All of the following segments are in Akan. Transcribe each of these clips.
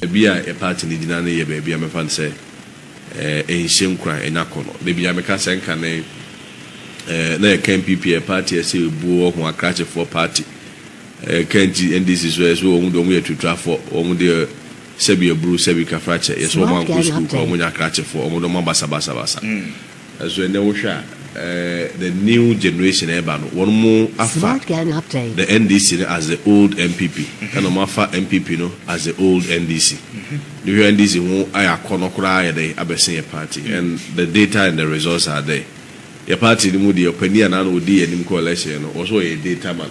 Baabi a yɛn paati no gyina no yɛ baabi a mɛfa no sɛ ɛnhyɛ nkuran, ɛnyɛ akɔnnɔ. Da biara meka sɛ nkane na yɛka NPP a ɛyɛ paati a ɛsɛ obuo, ɔho akrakyefoɔ paati. Ɛka nti NDC nso yɛse wɔn deɛ wɔyɛ atuturafoɔ, wɔn deɛ sɛbi aburu, sɛbi kafrakyɛ, yɛse wɔn ankɔ sukuu koraa, wɔnyɛ akrakyefoɔ, wɔn deɛ wɔabasa basa basa. Nso ɛnnɛ wohwɛ a the new generation a ɛreba no wɔnom afa the NDC no as the old NPP ɛna wɔn afa NPP no as the old NDC. Wohwɛ a NDC ho ayɛ akɔnɔ koraa ayɛ dɛn abɛsen yɛ party and the data and the results are there. Yɛ party no mu deɛ ɔpanin a na na ɔdi yɛn anim kɔ election no ɔse ɔyɛ data man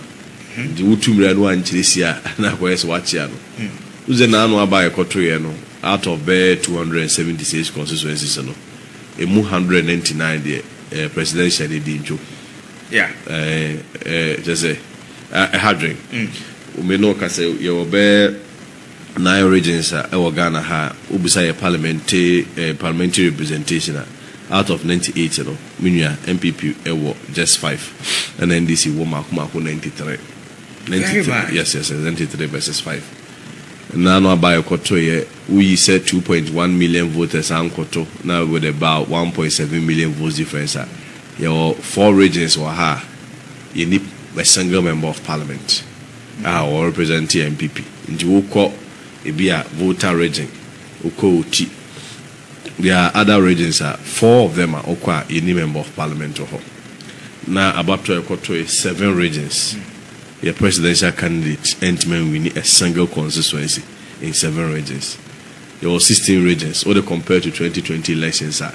nti wotu mmira no ankyerɛ si a na akɔyɛ sɛ wakyea no. Wohu sɛ n'ano aba a yɛkɔtoeɛ no out of bɛyɛ two hundred and seventy six constituencies no Emu hundred and ninety nine deɛ ɛyɛ presidential ne di ntwo ɛɛ kyɛ sɛ ɛha dwen me na ɔka sɛ yɛ wɔ bɛɛ nine regions a ɛwɔ Ghana ha a wo bisa yɛ parliament ɛɛ parliamentary representation a out of ninety eight no me nua NPP ɛwɔ just five ɛna NDC wɔ maako maako ninety three ninety three yes yes ninety three versus five nna no aba a yɛ kɔ to yɛ. Woyi sɛ two point one million voters ankɔto na with about one point seven million votes difference a, yɛwɔ four regions wɔ ha a yɛnni a single member of parliament a ɔwɔ represent NPP. Nti wokɔ ebi a Volta region, wokɔ Oti, there are other regions a four of them a wokɔ a yɛnni member of parliament wɔ hɔ. Na abatoɔ a yɛkɔtoe seven regions, yɛ presidential candidate antumi anwini a single constituency. in seven regions. Yɛwɔ sixteen regions, wode compare to twenty twenty elections a,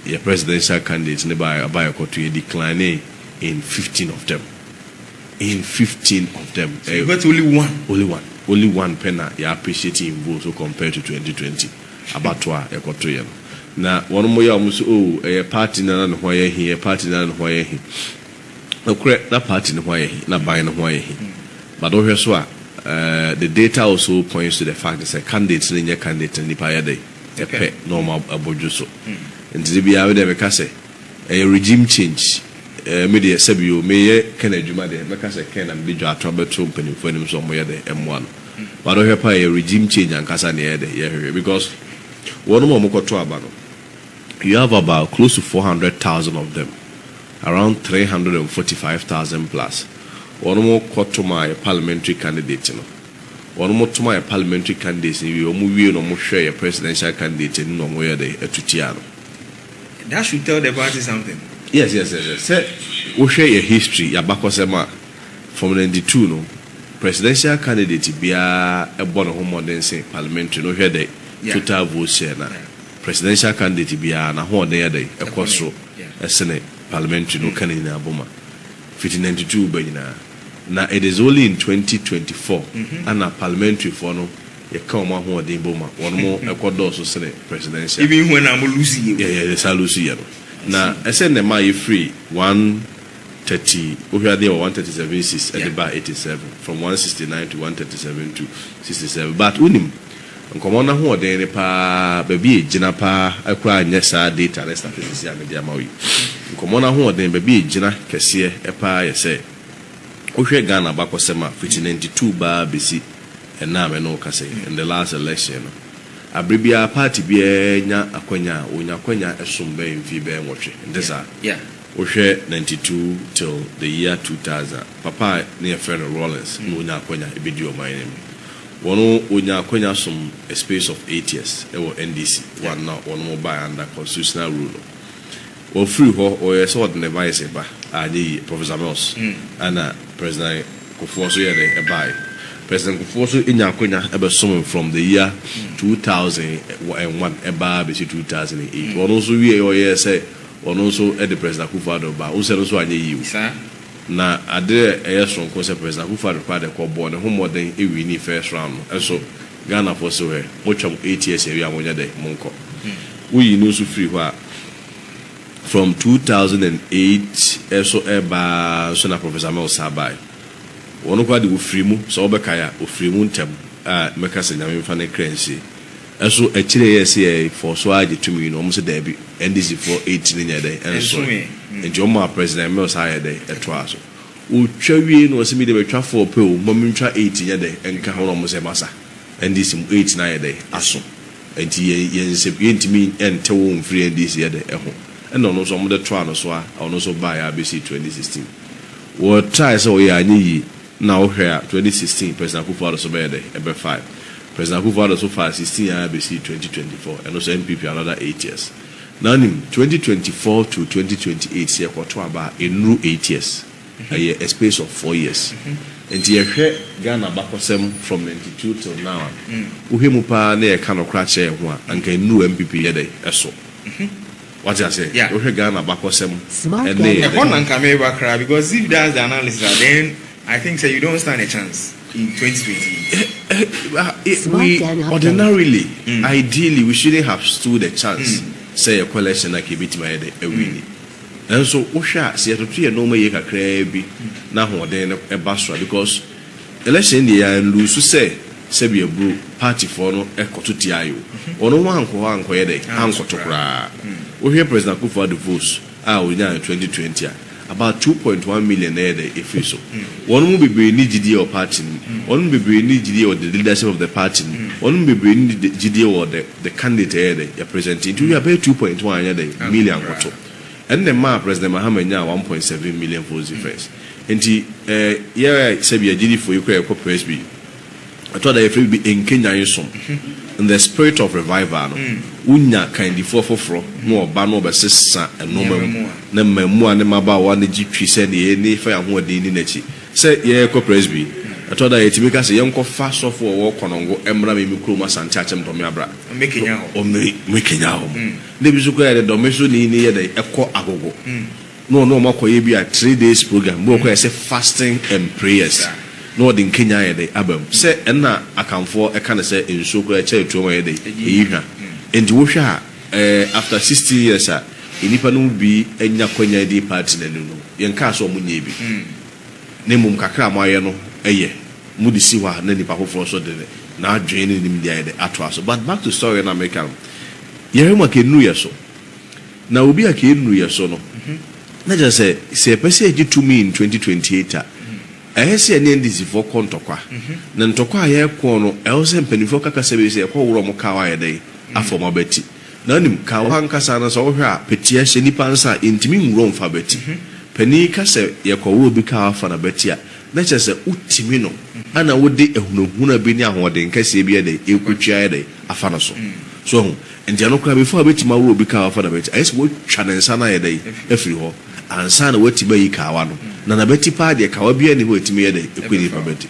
yɛ presidential candidate no baa aba a yɛkɔto, yɛ declinee in fifteen of them. In fifteen of them. So you got only one? Only one. Only one pɛ na yɛ appreciate in vote so compare to twenty twenty abatoɔ a yɛkɔtoeɛ no. Na wɔnom yɛ a wɔn se oh ɛyɛ party no ara ne ho ayɛ he, ɛyɛ party no ara ne ho ayɛ he. Nokorɛ, na party no ho ayɛ he, na ban no ho ayɛ he. But wohwɛ so a, the data also points to the fact sɛ candidate no nyɛ candidate a nnipa yɛ dɛn? Pɛ na wɔn abɔ dwo so. Nti da biara me deɛ meka sɛ, ɛyɛ regime change. Ɛɛ, me deɛ, sɛbi o, meyɛ Ken adwuma deɛ, mɛka sɛ Ken na mede dwa ato abɛto mpanyimfoɔ anim sɛ wɔnyɛ dɛn mmoa no. But wohwɛ paa a, ɛyɛ regime change ankasa na yɛyɛ dɛn? Yɛhwehwɛ. Because wɔnom a wɔkɔto aba no, you have about close to four hundred thousand of them. Around three hundred and forty five thousand plus wɔn mo kɔ to maa yɛ parliamentary candidate no wɔn mo to maa yɛ parliamentary candidates no wie wɔn mo wie no wɔn mo hwɛ yɛ presidential candidate no na wɔn mo yɛ dɛ ɛto tia no. That should tell the party something. Yes yes yes yes sɛ wo hwɛ yɛ history yɛ abakɔsɛm a from ninety two no presidential candidate biara bɔ ne ho mmɔden se parliamentary no hwɛ dɛ total vote share na presidential candidate biara na hoɔden yɛ dɛ ɛkɔ soro. ɛsene parliamentary no ka ne nyinaa bɔ ma fiti ninety two reba nyinaa na it is only in twenty twenty four ɛna parliamentary foɔ no yɛka wɔn ahoɔden bɔ ma wɔn mo ɛkɔ dɔɔso sene presidential Even when na mo lose yɛ o. yɛ yɛ saa lose yɛ no na ɛsɛ nnɛ ma yɛ firi one thirty wohwɛ adeɛ wɔ one thirty seven seats ɛde Yeah. baa eighty seven from one sixty nine to one thirty seven to sixty seven but wonim Nkɔmmɔ no ahoɔden ne paa, baabi a egyina paa koraa nyɛ saa data ne statistics a mede ama wo yi. Nkɔmmɔ no ahoɔden, baabi a egyina kɛseɛ paa yɛ sɛ, wohwɛ Ghana abakɔsɛm a, fiti ninety two baa bɛsi ɛnnɛ a me ne wo kasa yi, in the last election no, aberɛ biara party biara nya akwanya a, wɔnya akwanya som bɛyɛ mfie bɛyɛ nwɔtwe, ɛnte saa? Wohwɛ ninety two till the year two thousand a, papa a ne yɛfrɛ no Rawlings na ɔnya akwanya bɛdi ɔman no mu. Wɔn wɔnya akwanya som a space of eight years wɔ NDC one na wɔn baeɛ under constitutional rule no. Wɔn firi hɔ wɔyɛ sɛ wɔde ne vice ba a anyɛ yie Professor Mills ɛna President Kufuor nso yɛ dɛn baeɛ. President Kufuor nso nya akwanya bɛ som from the year two thousand and one ɛba ara bɛsi two thousand and eight wɔn nso wieɛ wɔyɛɛ sɛ wɔn nso de President Akufo Addo ba a wohu sɛ ɛno nso anyɛ yie o. Na ade a ɛyɛ soronko sɛ President Akufo-Addo koraa de kɔbɔɔ ne ho mmɔden winii first round no nso, Ghanafoɔ se hwɛ, motwa mo eight years awie a monyɛ dɛ, monkɔ. Woyii no nso firii hɔ a, from two thousand and eight so reba ara nso na Professor Mills san baeɛ. Ɔno koraa deɛ ɔfirii mu, sɛ wobɛkae a, ɔfirii mu ntɛm a mɛka sɛ Nyame mfa ne kra nsie. Nso akyire yɛ se yɛ fɔ so ara gye tumi no wɔn se daabi NDC foɔ eight no nyɛ dɛn ɛnsoe nti wɔn maa President Mills ara yɛ dɛn ɛtoaa so ɔtwa wiei na ɔse me deɛ mɛtwa four pɛ o mma me ntwa eight nyɛ dɛn nka ho na wɔn se masa NDC mu eight no ayɛ dɛn aso nti yɛn yɛn nsɛm yɛn ntumi ɛnte wo mfiri NDC yɛ dɛn ɛho ɛna ɔno nso wɔn de toaa no so ara ɔno nso baeɛ ara bɛsii twenty sixteen wɔ try sɛ ɔyɛ anyɛ yie. Na wo hwɛ a twenty sixteen President Akuffo Addo so bɛyɛ dɛn? Ɛbɛ fae. President Akuffo Addo so faa sixteen ara bɛsii twenty twenty four, ɛno so NPP another eight years. Na wonim twenty twenty four to twenty twenty eight sɛ yɛkɔto aba a ɛnnuru eight years, ɛyɛ a space of four years. Nti yɛ hwɛ Ghana abakɔsɛm from ninety two till now a, wo hwɛ mu paa na yɛ ka nokora kyerɛ yɛn ho a, anka ɛnnuru NPP yɛ dɛn? Ɛso. Wate aseɛ? Yeah. Wohwɛ Ghana abakɔsɛm Smart ɛne Ghana. Ɛhɔ na nka mereba koraa because if that's the analysis a then I think sɛ you don't stand a chance in twenty twenty eight. Eh, eh, ah, eh, Smart we Ghana update. ordinarily, ideally, we shouldn't have stood a chance sɛ yɛkɔ election na nka yɛbɛtumi ayɛ dɛ awini. Nanso wohwɛ a sɛ yɛtoto yɛn nnoɔma yie kakraa bi na ahoɔden no ba soro a because Election deɛ yɛ anluusu sɛ sɛbia bro party foɔ no kɔto tiae o wɔn ho ankɔ hɔ ankɔyɛ dɛn ankɔto koraa wohwɛ president akuffo addo votes a ɔnyaa no twenty twenty a about two point one million na ɛyɛ dɛn ɛfiri so wɔn mu bebree nni gyidie wɔ party no mu wɔn mu bebree nni gyidie wɔ the leadership of the party no mu wɔn mu bebree nni gyidie wɔ the the candidate ɛyɛ dɛn yɛ present nti wohwɛ a bɛyɛ two point one anyɛ dɛn million ankɔto Ɛnna ɛmaa President Mahama nyaa one point seven million votes difference. Enti eh, yɛ a sɛbi agyidifo yi koraa yɛkɔ Presby, ɛtɔ da yɛfrɛ biribi nkenyan som, in the spirit of revival no, wonya kandifoɔ foforɔ na wɔba na wɔbɛsesa nnoɔma mu, na mmaamua ne mmabaawa no gye twi sɛ nea yɛn ani fa yɛn ahoɔden nni n'akyi. Sɛ yɛrekɔ Presby, ɛtɔ da a yɛtumi ka sɛ, Yɛnkɔfa sɔfo a ɔwɔ Konongo mmra me me kurom Asante Akyem Dɔme Abra, na ɔmmɛkenyan wɔn. Dɛ bi so koraa yɛde dɔme so ne ne yɛ dɛn ɛkɔ agogo na ɔne ɔmo akɔ yɛ bi a three days program bi wɔ hɔ koraa yɛsɛ fasting and prayers na ɔde nkenyan ayɛ dɛn aba mu sɛ ɛna akanfoɔ ɛka no sɛ nsuo koraa ɛkyɛ ɛtuom a ɛyɛ dɛn ɛyi hwa nti wo hwɛ a ɛɛ after sixteen years a nnipa no mu bi anya kwanya adi party no ani no yɛn kaa sɛ ɔmo nyɛ bi na mmom kakra a mo ayɛ no ɛyɛ mo de si hɔ a na nnipa foforɔ nso de na adwene ne nimdeɛ ayɛ dɛn atoa so but back to story no a meka no. Yɛhwɛ ma kɛnnu yɛ so. Na obi a kɛnnu yɛ so no, na kyerɛ sɛ, sɛ yɛpɛ sɛ yɛgye tumi in 2028 a, ɛyɛ sɛ yɛne NDC foɔ kɔ ntɔkwa. Na ntɔkwa a yɛrekɔ no, ɛwɔ sɛ mpanimfoɔ ka kasa bi sɛ yɛkɔ woro wɔn kaa wɔayɛ dɛn? afa wɔn abati. Na wonim, kaa wɔ ankasa no sɛ wohwɛ a, peteɛ hyɛ nnipa nsa a, yɛntumi nwura wɔn mfa abati. Panin yi ka sɛ yɛkɔ woro obi kaa wɔafa no abati a, na kyerɛ sɛ wotumi no na wode ahunahuna bi ne ahoɔden kɛseɛ bi ayɛ dɛn, rekɔtwi ayɛ dɛn, afa no so. So wahu? Enti ɛno koraa, before wobɛtumi aworɔ obi kawa afa n'abati, ayɛ sɛ woatwa ne nsa no ayɛ dɛn, afiri hɔ, ansa na woatumi ayi kawa no. Na n'abati paa deɛ, kawa biara nni hɔ a ɛtumi yɛ dɛn, ɛkɔ nipa abati.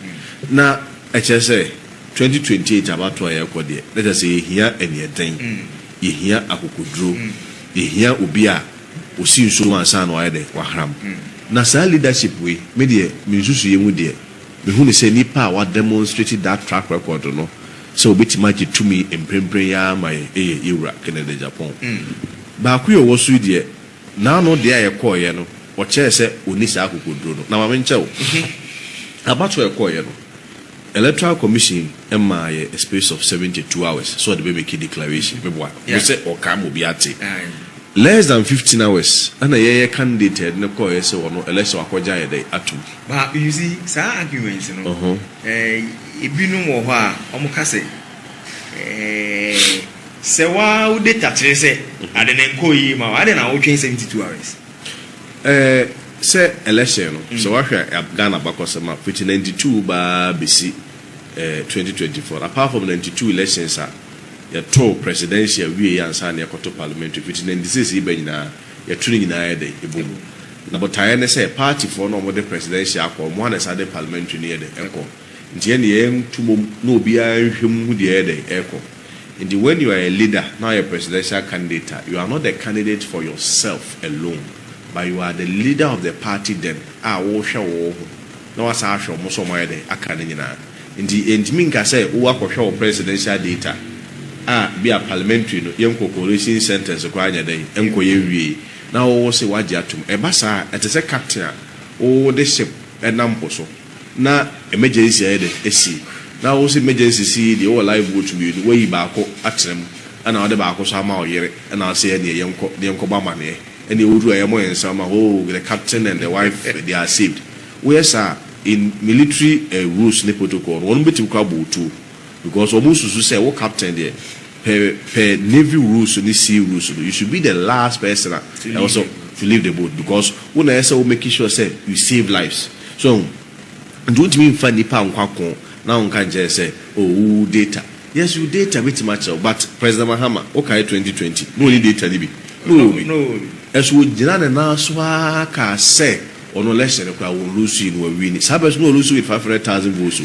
Na ɛkyerɛ sɛ, 2028 abatoɔ a yɛrekɔ deɛ, na kyerɛ sɛ yɛhia aniɛden, yɛhia akokoduro, yɛhia obi a, Osi nsuo mu ansa na wayɛ dɛ wahram. Na saa leadership wei, me deɛ me nsusuiɛ mu deɛ, me hu no sɛ nipa a wa demonstrate that track record no sɛ obetumi agye tumi mprempren yi ara ma yɛn ɛyɛ yɛ wura Kennedy Agyapong. Baako yi a ɔwɔ so yi deɛ, n'ano deɛ a ɛkɔeɛ no, ɔkyerɛɛ sɛ ɔnni saa akokoduro no. Na ma menkyɛ wo, abatoɔ a ɛkɔeɛ no, Electoral commission maa yɛ a space of seventy two hours sɛ ɔde bɛ make declaration me boa wo sɛ ɔka ma obi ate less than fifteen hours ɛna yɛ yɛ candidate a yɛde no kɔɔ yɛ sɛ ɔno election wakɔ gya yɛ dɛ atom. But you see saa arguments no eh ebi nom wɔ hɔ a ɔmo ka sɛ eh sɛ waa wo data kyerɛ sɛ ade no nkɔɔ yie ma wo adɛn na wo twɛn seventy two hours. Ɛɛ sɛ election no sɛ wahwɛ Ghana abakɔsɛm a fiti ninety two baa besi ɛɛ twenty twenty four apart from ninety two elections a yɛto presidential wie yɛ ansa na yɛkɔto parliamentary fiti ninety six yi ba nyinaa yɛto ne nyinaa yɛ dɛn ɛbɔ mu na botaeɛ ne sɛ party foɔ no a wɔde presidential akɔ wɔn a na ɛsan de parliamentary no yɛ dɛn ɛkɔ nti yɛn deɛ yɛn to mom na obiara nhwɛ mu hu deɛ ɛyɛ dɛn ɛkɔ. Nti when you are a leader na woyɛ presidential candidate a, you are not the candidate for yourself alone but you are the leader of the party then a wohwɛ wo wo ho na woasan ahwɛ ɔmo nso a ɔmo ayɛ dɛn aka ne nyinaa. Nti yɛntumi nka sɛ wo akɔhwɛ wo presidential data a bi a parliamentary no yɛnkɔ collation centres koraa nyɛ dɛn nkɔ yɛ nwiei na wo wo se woagye atom. Ɛba saa a ɛte sɛ captain a wo wo de ship nam po so. na emergency ayɛ dɛ esi, na wo se emergency si yi deɛ wowɔ live boat mmienu, woayi baako atena mu ɛna wode baako nso ama wo yere ɛna wose ɛneɛ yɛnkɔ na yɛnkɔbɔ amaneɛ ɛneɛ woduru a yɛmmɔ yɛn nsam ma hoo the captain and the wife they are saved. Woyɛ saa a in military rules ne protocol no wɔnom bɛtumi koraa abɔ wo tuo. Because ɔmo susu sɛ wo captain deɛ pɛ pɛ navy rules ne sea rules no you should be the last person a ɛwɔ sɛ to leave the boat because wo na ɛyɛ sɛ wo make sure sɛ you save lives so ahu nti wontumi nfa nipa nkɔ ako na wonka nkyerɛ no sɛ oh wo data yes you data mɛtumi akyerɛ wo but President Mahama wo kae twenty twenty na ɔnni data no bi na ɔwɔ bi ɛso ɔgyina ne nan so aa kaa sɛ ɔno election no koraa wɔn lose yi no wɔ win saa bɛ so na ɔlose with five hundred thousand votes o.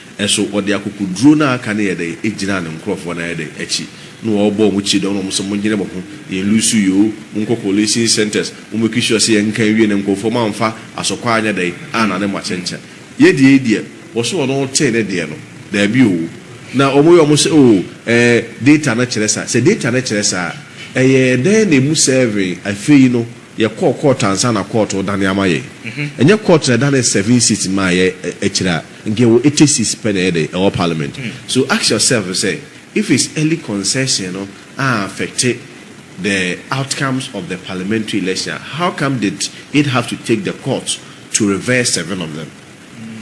Nso ɔde akokoduro no a aka no yɛ dɛn gyinaa ne nkurɔfoɔ no ayɛ dɛn akyi na ɔrebɔ wɔn kyidɔm na wɔn sɛ monyere mo ho yɛn lusu yoo monkɔ collating centres mo make sure sɛ yɛnka nwie na nkurɔfoɔ moamfa asɔkɔ anyɛ dɛn annane mo akyɛnkyɛn yɛ deɛ yi deɛ wɔse ɔno ɔtee ne deɛ no daabi oo na wɔn yɛ wɔn sɛ oo ɛɛ data no kyerɛ saa sɛ data no kyerɛ saa a ɛyɛɛ dɛn na ɛmu sɛɛvee afei no yɛkɔɔ court ansa na court redane ama yɛn ɛnyɛ court na ɛdanee seven seats maa yɛn akyire a. Nka wɔ eighty seats pɛ na ɛyɛ dɛn ɛwɔ parliament so ask yourself sɛ if it's early concession no a affect the outcomes of the parliamentary election a how come did it have to take the court to reverse seven of them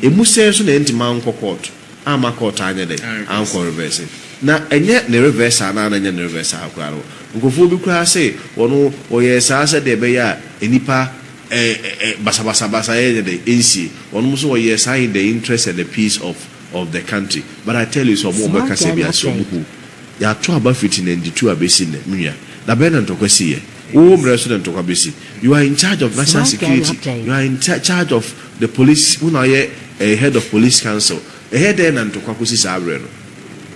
ɛmu sɛn nso na ɛnti mankɔ court amma court anyɛ dɛn ankɔ reverse na ɛnyɛ ne reverse saa na na ɛnyɛ ne reverse saa koraa no nkurɔfoɔ bi koraa se wɔn wɔyɛɛ saa sɛdeɛ ɛbɛyɛ a nnipa Ɛ ɛ basabasa basa yɛ nyɛ dɛn nsie wɔnom so wɔ yɛɛ saa in the interest and the peace of of the country but I tell you sɛ ɔmo ɔmo ɛka sɛ bia sɛ ɔmo hu yɛato aba firi ti ninety two abɛsi nnɛ me nua da bɛn na ntɔkwa sii ɛ wo wo mmerɛ so na ntɔkwa bɛsi you are in charge of national security you are in charge of the police wo na woyɛ ɛ head of police council ɛyɛ dɛn na ntɔkwa kɔsi saa berɛ no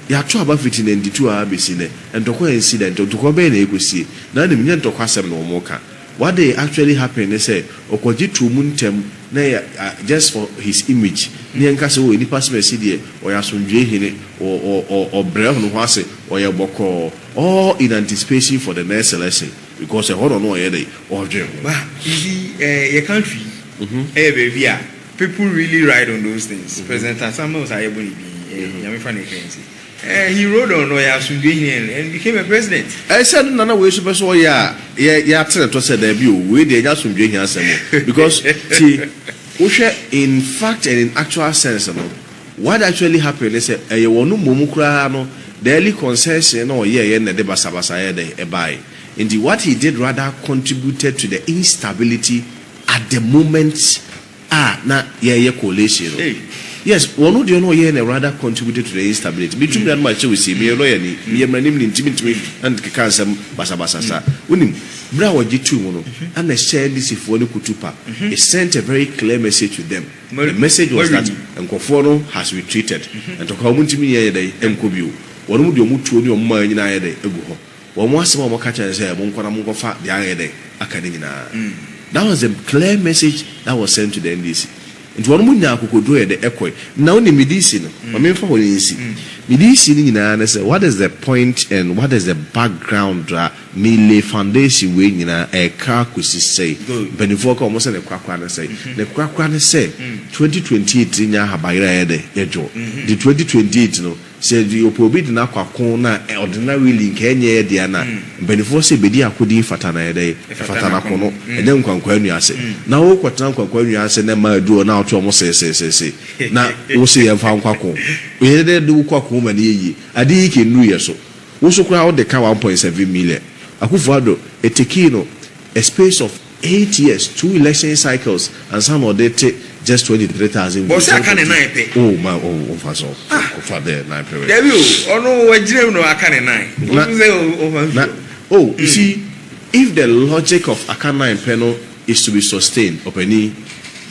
yɛato aba firi ti ninety two aa bɛsi nnɛ ntɔkwa ansi da nti ntɔkwa bɛn na ɛkɔsie na anim nyɛ ntɔkwa asɛm na ɔmo ka What they actually happened ne sɛ ɔkɔgye too mu ntɛm na yɛ a just for his image ne yɛnka sɛ oh nipa Simasi deɛ ɔyɛ asomdwoeɛ hene, ɔ ɔ ɔ ɔbrɛ ɔno ho ase, ɔyɛ bɔkɔɔ all in anticipation for the next election because ɛhɔ na ɔno ɔyɛ dɛn ɔredwen ho. Ba you see eh yɛ country yi ɛyɛ baabi a people really ride on those things, President Atta Mills a yɛbɔ ne din yi eh Nyame fa no nka yɛn nti. Eh, he rode on na ɔyɛ asomdwoe hene and and became a president. Eh, sɛ ɛno na na wei nso pɛ sɛ ɔyɛ a, yɛ yɛ ate ne to sɛ, Dabi o, wei deɛ ɛnyɛ asomdwoe hene asɛm o. Because, tie, wohwɛ in fact and in actual sense no, what actually happened ne sɛ, ɛyɛ wɔn mmom koraa no, the early concession na ɔyɛeɛ na ɛde basabasa yɛɛ dɛn? Ɛbaeɛ. Enti, what he did rather contributed to the instability at the moment. a na yɛyɛ coalition no yes wɔno deɛ na ɔyɛɛ no rather contributed to the instability me tumi nana makyɛ wo sie meyɛ lawyer ni meyɛ mmaranim ni nti mentumi nkeka nsɛm basabasa saa wonim berɛ a ɔgye too mu no ɛna ɛhyɛɛ NDC foɔ no kutu pa it sent a very clear message to them the message was that nkorɔfoɔ no has retreated ntɔkwa wɔn ntumi nyɛ yɛ dɛn nkɔ bio wɔnom deɛ wɔn tuo ne wɔn mayɛ nyinaa ayɛ dɛn agu hɔ. Wɔn asɛm a wɔka kyerɛ no sɛ monkɔ na monkɔfa deɛ ayɛ dɛn aka no nyinaa. That was the clear message that was sent to the NDC. Nti wɔnom nyaa akokoduro yɛ de kɔe. Na wonim me DC no, ma memfa hɔ no nsi. Me DC no nyinaa ne sɛ what is the point and what is the background a me lay foundation wei nyinaa ɛreka akɔsi sɛi. Mpaninfoɔ ka wɔn sɛ ne korakora ne sɛi. Ne korakora ne sɛ 2028 yɛnya ahaban yere a yɛyɛ dɛn yɛdwo. Nti 2028 no Sɛ Ɔpɛ obi de no akɔ ako na ɔde no na really nka ɛnyɛ yɛ dea no a, mpaninfoɔ se bedi ako din fata na ɛyɛ dɛn? Ɛfata no ako no. Ɛnyɛ nkwankwaa nnua ase. Na wo kɔtena nkwankwaa nnua ase na mmaa aduru hɔ na wote wɔn seeseesee na wo se yɛmfa nkɔ ako. Ɛyɛ dɛn de wo kɔ ako ma no yɛ yie? Ade yi ke nnuru yɛ so. Wo nso koraa wode ka one point seven million. Akufo Addo, it takee no a space of. Eight years, two election cycles ansa na ɔde te just twenty three thousand votes. Ɔsɛ aka ne nan pɛ. Oh ma oh oh nfa so ah ko fa dɛ nan pɛ wɛ. Dabi o ɔno wa gyina mu na wa ka ne nan o su sɛ o fa nsuo. Oh you see if the logic of aka nan pɛ no is to be sustained ɔpanin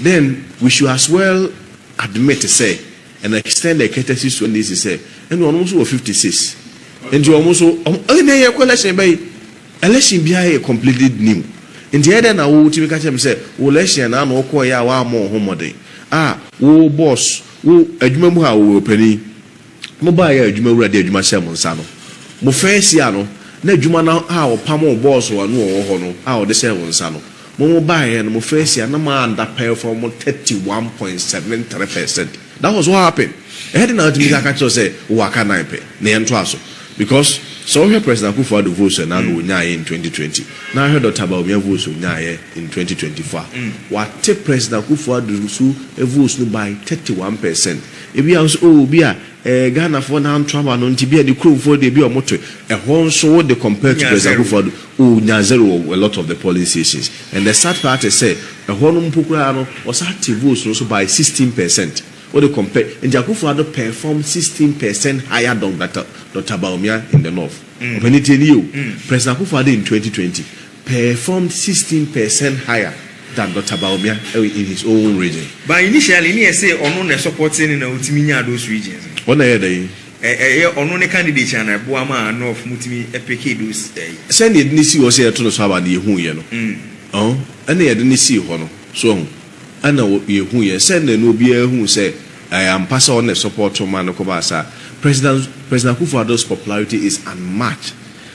then we should as well admit sɛ and extend the courtesy to NDC sɛ ɛnna ɔno nso wɔ fifty six nti ɔmo nso ɔmo ɛnna yɛ kɔ election bɛyi. Election biara yɛ completely new, nti ɛyɛ dɛn na wo wotumi ka kyerɛ me sɛ wo election na na wokɔɔ yɛ a woammɔ wo ho mmɔden? A wo boss, wo adwuma mu ha, wo wurapanin, mo baa yɛ a adwuma wura de adwuma hyɛɛ mo nsa no, mo first year no, na adwuma no a wɔpamoo boss a na ɔwɔ hɔ no a ɔde hyɛɛ wo nsa no, Mo mo baeɛ no mo first year na mo under perform mo thirty one point seven three percent that was what happened ɛyɛ den na watumi ka kyerɛ wo sɛ wowɔ aka nan pɛ na yɛntoa so because sɛ wohwɛ President Akuffo Addo votes a na na ɔnyaeɛ in twenty twenty na wohwɛ Doctor Bawumia votes a ɔnyaeɛ in twenty twenty four a wate President Akuffo Addo nso votes no by thirty one percent ebi a wo sɛ oh obi a Ɛɛ Ghanafoɔ na anto aba no nti bia ne kuromfoɔ deɛ bia ɔmo to ɛhɔ nso wo de compared to President Akufo Addo oh nya zero wɔ a lot of the polling stations and the sad part is sɛ ɛhɔ nom mpo koraa no ɔsaa te votes no so by sixteen percent wo de compare nti Akufo Addo perform sixteen percent higher dɔn Doctor Bawumia in the North ɔpɛni tie nie o President Akufo Addo in twenty twenty performed sixteen per cent higher than Doctor Bawumia in his own region. But initially ne yɛ see ɔno na ɛsupportee no na ɔtumi nyaa those regions no. Ɔna ɛyɛ dɛn? Ɛyɛ ɔno ne candidature na ɛboa maa North mo tumi pickee those ɛyi. Sɛnea yɛde no sii hɔ sɛ yɛto no so aba no yɛhuiɛ no, ɔho, ɛna yɛde no sii hɔ no, so wahu, ɛna yɛhuiɛ sɛnea na obiara hu sɛ ɛyɛ ampa sɛ ɔno na ɛsupportoo maa no kɔbaa saa. President, President Akufo-Addo's popularity is unmatched.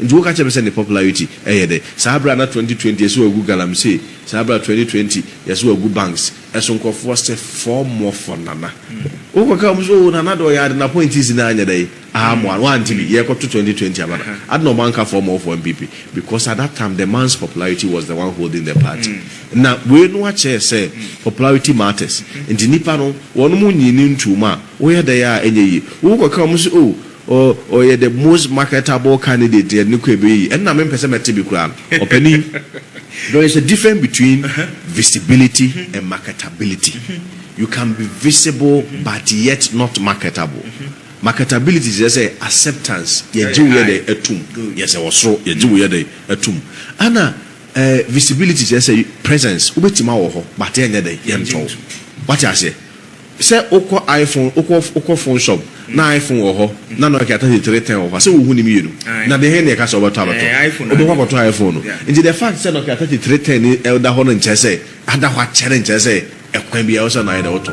Nti woka kyerɛ me sɛ ne popularity yɛ dɛ saa bere a na twenty twenty yɛse wagu galamsey saa bere a twenty twenty yɛse wagu banks ɛso nkurɔfoɔ se four more for Nana wo kɔ ka wɔn se oh Nana de ɔyɛ ade na pointis no anyɛ dɛn amoa no wante bi yɛkɔ to twenty twenty aba no ade na wɔn anka four more for NPP because at that time the man's popularity was the one holding the party na wei no akyɛɛ sɛ popularity matters nti nipa no wɔnom nyii no ntuo mu a woyɛ dɛn a ɛnyɛ yie wo kɔ ka wɔn se oh O ɔyɛ the most marketable candidate yɛde no kɔ ɛbɛ yi ɛno na me mpɛ sɛ mɛte bi koraa no ɔpanin there is a different between visibility and marketability you can be visible but yet not marketable marketability kyerɛ sɛ acceptance yɛgye wo yɛ dɛ atum yes ɛwɔ soro yɛgye wo yɛ dɛ atum ɛna eh visibility kyerɛ sɛ presence wobɛtumi awɔ hɔ but yɛnyɛ dɛ yɛntɔ wo wate aseɛ Sɛ wokɔ iPhone wokɔ wokɔ phone shop na iPhone wɔ hɔ na Nokia thirty three ten wɔ hɔ a, sɛ wohu ne mmienu? Na deɛn na ɛka sɛ wobɛtɔ abɛtɔ? Wobɛkɔ akɔtɔ iPhone no. Nti the fact sɛ Nokia thirty three ten no ɛda hɔ no nkyerɛ sɛ ada hɔ akyɛ no nkyerɛ sɛ ɛkwan biara wosɛ na ayɛ dɛ wotɔ.